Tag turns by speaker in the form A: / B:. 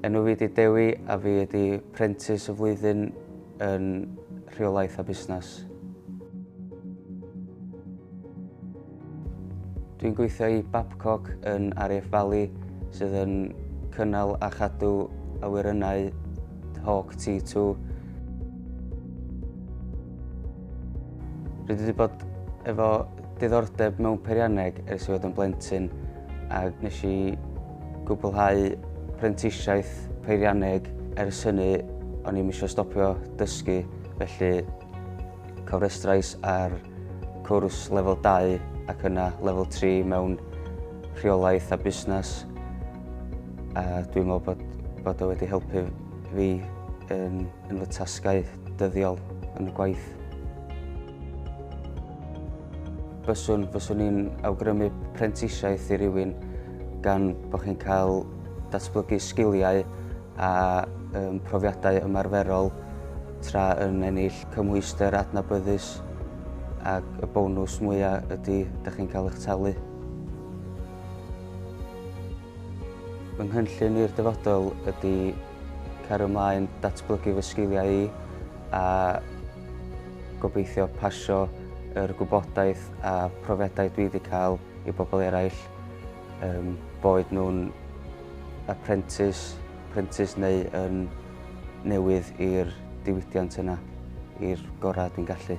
A: Enw fi ydi Dewi a fi ydi prentis y flwyddyn yn rheolaeth a busnes. Dwi'n gweithio i Babcock yn RAF Valley sydd yn cynnal a chadw awyrennau Hawk T2. Rydw i wedi bod efo diddordeb mewn peirianneg ers i fod yn blentyn a nes i gwblhau prentisiaeth peirianneg ers hynny o'n i'm eisiau stopio dysgu felly cofrestrais ar cwrs lefel 2 ac yna lefel 3 mewn rheolaeth a busnes. A dwi'n meddwl bod, bod o wedi helpu fi yn, yn fy tasgau dyddiol yn y gwaith. Byswn, byswn i'n awgrymu prentisiaeth i rywun gan bod chi'n cael datblygu sgiliau a um, profiadau ymarferol tra yn ennill cymhwyster adnabyddus ac y bonws mwyaf ydy ydych chi'n cael eich talu. Fy nghynllun i'r dyfodol ydy cario ymlaen datblygu fy sgiliau i a gobeithio pasio yr gwybodaeth a profiadau dwi wedi cael i bobl eraill, um, boed nhw'n apprentice, apprentice neu yn newydd i'r diwydiant yna, i'r gorau dwi'n gallu.